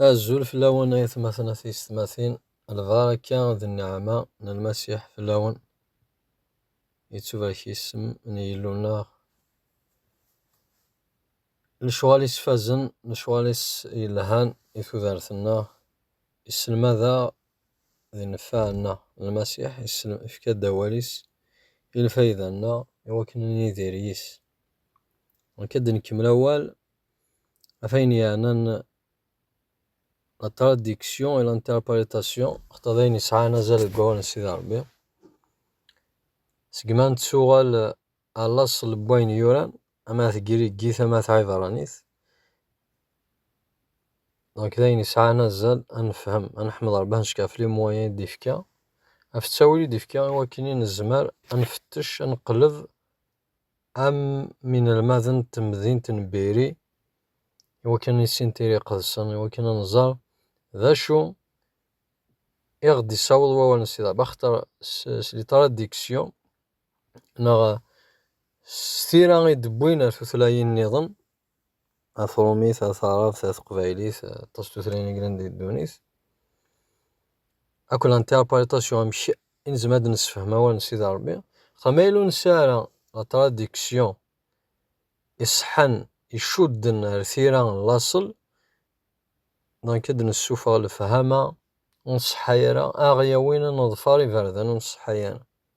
Azul fell-awen ay atmaten a tiysetmatin, lbaraka d nneɛma n Lmasiḥ fell-awen. Yettubarek yisem n Yillu-nneɣ. Lecɣal-is fazen, lecɣal-is yelhan i tudert-nneɣ. Isselmad-aɣ d nnfeɛ-nneɣ. Lmasiḥ ifka-d awal-is i lfayda-nneɣ i wakken ad nidir yis. Nekk ad d-nkemmel awal. Afin yeɛnan la traduction et l'interprétation d ayen yesɛan azal deg wawal n Sidi Ṛebbi, seg mi ara nettuɣal ɣer laṣel n wayen yuran, ama d tagrigit ama d tɛibṛanit, donc d ayen yesɛan azal ad nefhem, ad neḥmed Ṛebbi, ad neckeɛ fell-i i wayen i d-ifka, ɣef ttawil i d-ifka i wakken i nezmer ad nfettec, ad neqleb. am yinelmaden n temdint n Biri, i wakken ad nissin tira iqedsen, i wakken ad nẓer d acu i ɣ-d-issaweḍ wawal n Sidi Rebbi, axaṭer s les traductions neɣ s tira i d-wwin ɣer tutlayin-nniḍen, Atrumi, Taɛrabt, Taqbaylit, aṭas n tutlayin i yellan di ddunit. Akk l'interprétation, amek i nezmer ad d-nessefhem awal n Sidi Ṛebbi. Axaṭer ma yella ur nesɛi ara la traduction iṣeḥḥan, icudden ar tira n laṣel, donc ad d-nessufeɣ lefhama ur nṣeḥḥa ara, ad aɣ-yawin ad neḍfer iberdan ur nṣeḥḥa ara.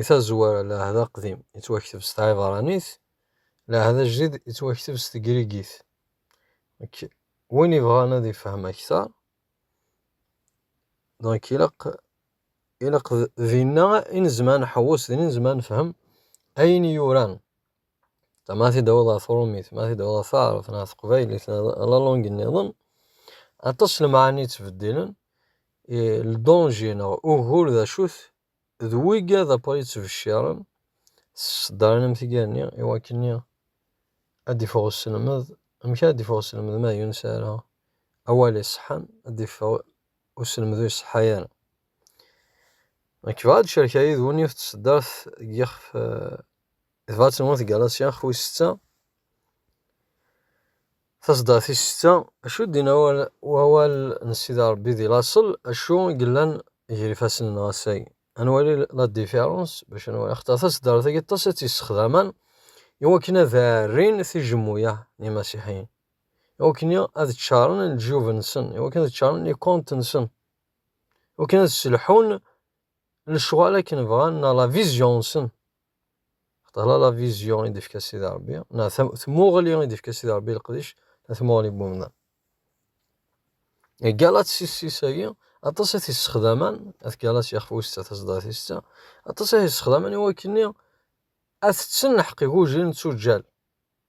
I tazwara, Lɛehd Aqdim yettwakteb s tɛibṛanit, Lɛehd Ajdid yettwakteb s tegrigit. Donc, win yebɣan ad ifhem aktar, donc ilaq ilaq dinna i nezmer ad nḥewwes, dinna i nezmer ad nefhem ayen yuran. Ma tidawḍ ɣer tṛumit, ma tidawḍ ɣer taɛṛabt neɣ teqbaylit neɣ la langue nniḍen, aṭas n lemɛani yettbeddilen, le danger neɣ ugur d acu-t, D wigad apa yettbecciren s ṣṣdar n amtiger-nni i wakken-nni ad d-iffeɣ uselmed. Amek ara d-iffeɣ uselmed ma yuness ara awal iṣeḥḥan, ad d-iffeɣ uselmed ur iṣeḥḥa ara. Nekk bɣiɣ ad d-cerkeɣ yid-wen yiwet n tṣeddart deg yixef, tebɣa ad tenwu tgalasya xwi setta. Tasedda tis setta, Acu i d-inna wawal n Sidi Rebbi di laṣel, acu i yellan ger ifassen n Ɣasay? Ad nwali la différence bac ad nwali axaṭer taseddart-agi aṭas i tt-yessexdamen i wakken ad d-ɛerrin tijemmuya n yimasiḥiyen, i wakken ad ččaṛen leǧyub-nsen, i wakken ad ččaṛen les comptes-nsen, i wakken ad sselḥun lecɣal akken bɣan neɣ la vision-nsen. Xeṭṭala la vision i d-ifka Sidi Rebbi, neɣ tmuɣli i d-ifka Sidi Rebbi leqdic, la tmuɣli n umdan. Galat sissis-agi, aṭas i t-issexdaman, at galat yaxf wista tazdat-is ta, aṭas i t-issexdaman i wakken ad tetten lḥeqq igujil n tuǧǧal.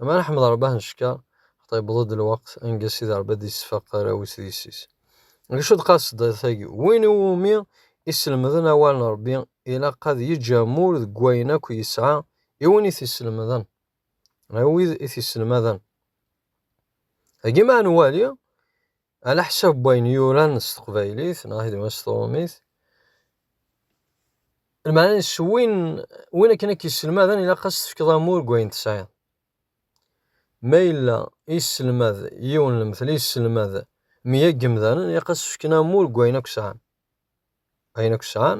Ama Ḥmed Rebah n Cekka, xaṭi yewweḍ-d lweqt anga Sidi Rebbi ad d-yessefeq arraw-is d yessi-s. Ngecu-d qasiḍa-agi, Win i wumi i sselmden awal n Rebbi, ilaq ad yeǧǧ amur deg wayen akk yesɛa i win i t-isselmden, i wid i t-isselmaden. Dagi ma ad nwali, Ala ḥsab n wayen yuran s teqbaylit neɣ hidma s trumit, lmeɛna s win win akken ak yesselmaden ilaq ad s-tefkeḍ amur deg wayen tesɛiḍ. Ma yella yesselmad yiwen lemtel yesselmad meyya n yemdanen ilaq ad s-fken amur deg wayen akk sɛan. Ayen akk sɛan,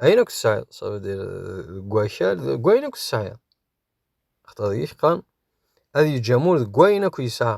ayen akk tesɛiḍ, ça veut dire deg wakal deg wayen akk tesɛiḍ. Axaṭer deg-k qqaren ad yeǧǧ amur deg wayen akk yesɛa.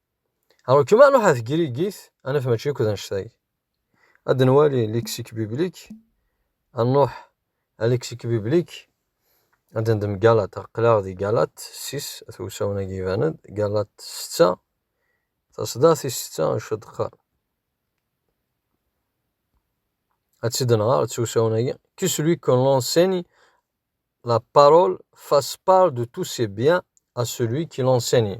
Rrekma ruḥ ɣer tgrigit, ad naf mačči akk d annect-agi. Ad nwali lexique biblique, ad nruḥ ɣer lexique biblique, ad nendem Galat, aql-aɣ di Galat ssis, at usawen-agi iban-d, Galat setta, taṣeddart tis setta, d acu d-teqqar. Ad tt-id-nɣer s usawen-agi, que celui que l'on enseigne la parole fasse part de tous ses biens à celui qui l'enseigne.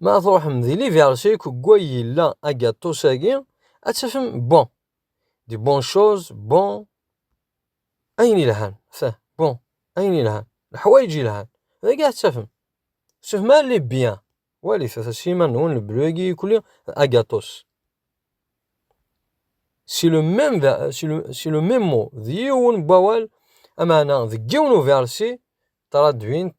Ma tṛuḥem di liberté kugwa yella agaṭus-agi, ad tafem bon. Di bon chose, bon, ayen ilhan, feh, bon, ayen ilhan, leḥwayeǧ ilhan, dagi ad tafem. Sufem ar les biens, walit ata s yiman-nwen lebru-agi ikuli d agaṭus. C'est le même ver, c'est le, c'est le même mot, d yiwen n wawal, amaɛna deg yiwen uversi, traduint,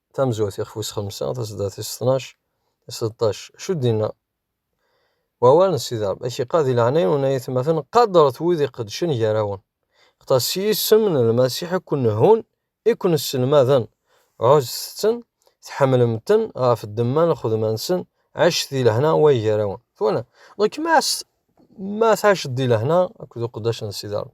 tamezwarut ixef wis xemsa taseddart tis tnac tis seṭṭac acu d-inna wawal n Sidi Ṛebbi ad k-iqad di leɛnaya n unay atmaten qadret wid iqedcen gar-awen xeṭṭer s yisem n Lmasiḥ i ken-nhun i ken-sselmaden ɛuzzet-ten tḥemmlem-ten ɣef ddemma n lxedma-nsen ɛicet di lehna way gar-awen twala donc ma ma tɛiceḍ di lehna akked uqeddac n Sidi Ṛebbi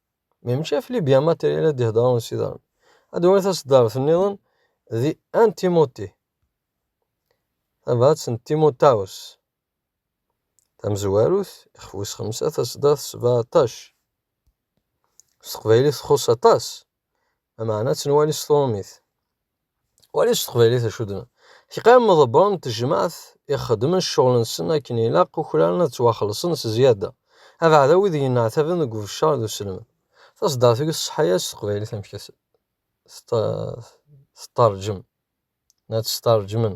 Mi mačči ɣef Libya matri ara d-iheddṛen d Siderman. Ad d-wali taṣeddart nniḍen di Ann Timoti, tabrat n Timotawes, tamezwarut, ixef wis xemsa, taṣeddart sebɛṭac. S teqbaylit txuṣṣ aṭas, lameɛna ad tt-nwali s tṛumit. Wali s teqbaylit acu d-nnan. Teqqim meḍebber n tejmaɛt i xedmen cceɣl-nsen akken ilaq ukraren ad ttwaxelṣen s zzyada, abeɛda wid yenneɛtaben deg ubeccer d uselmed. Taṣeddart-agi tṣeḥḥa-yas s teqbaylit amek ad teṭṭerǧem, ad tt-sterǧmen.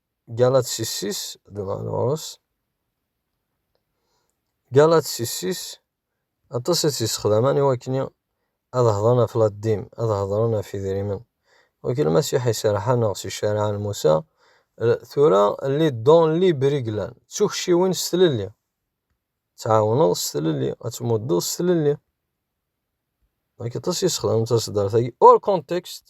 Galatsisis dɣa ɣur-s. Galatsisis aṭas i tt-yessexdamen i wakken ad hedren ɣef laddim, ad hedren ɣef idrimen. Wi k Lmasiḥ iserḥen neɣ s ccariɛa n Musa, tura li don li briglan, d tukciwin s tlelli. Tɛawneḍ s tlelli, ad tmuddeḍ s tlelli. Wi k aṭas i yessexdamen taseddart-agi, hors contexte.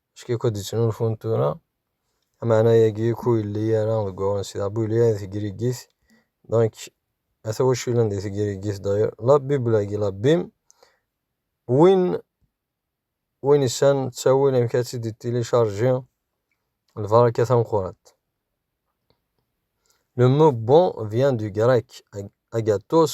Acku akk-d ttnulfun tura, amaɛna-agi akk ur yelli ara deg uɣren si dɣa bu yelli ara di tegrigit, donc ata wacu yellan di tegrigit d'ailleurs la bible-agi la bim, win win issan ttawil amek ad tt-id-télécharger lbaraka tameqqrant. Le mot bon vient du grec agathos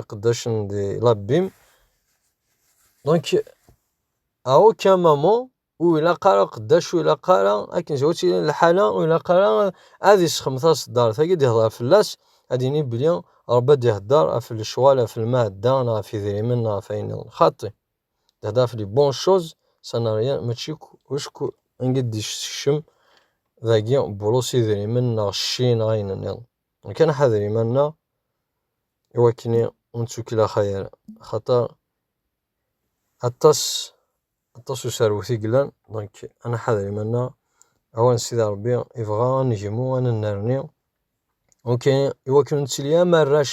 iqeddacen di labim, donc à aucun moment ur ilaq ara uqeddac ur ilaq ara akken zwaǧ tilin lḥala ur ilaq ara ad isxem taṣeddart-agi ad ihder fell-as ad ini belli Rebbi ad ihder ɣef lecɣal ɣef lmeɛda neɣ ɣef idrimen neɣ ɣef wayen nniḍen xaṭi ad ihder ɣef les bonnes choses ça n'a rien mačči acku anga d-isekcem dagi burus idrimen neɣ cci neɣ ayen nniḍen. Nekk ad nḥader iman-nneɣ i wakken ur nettukellex ara, axaṭer aṭas aṭas userwet i yellan, donc ad nḥader iman-nneɣ, awer n Sidi Ṛebbi yebɣa ad negmu, ad nennerni, ok i wakken ur nettili am arrac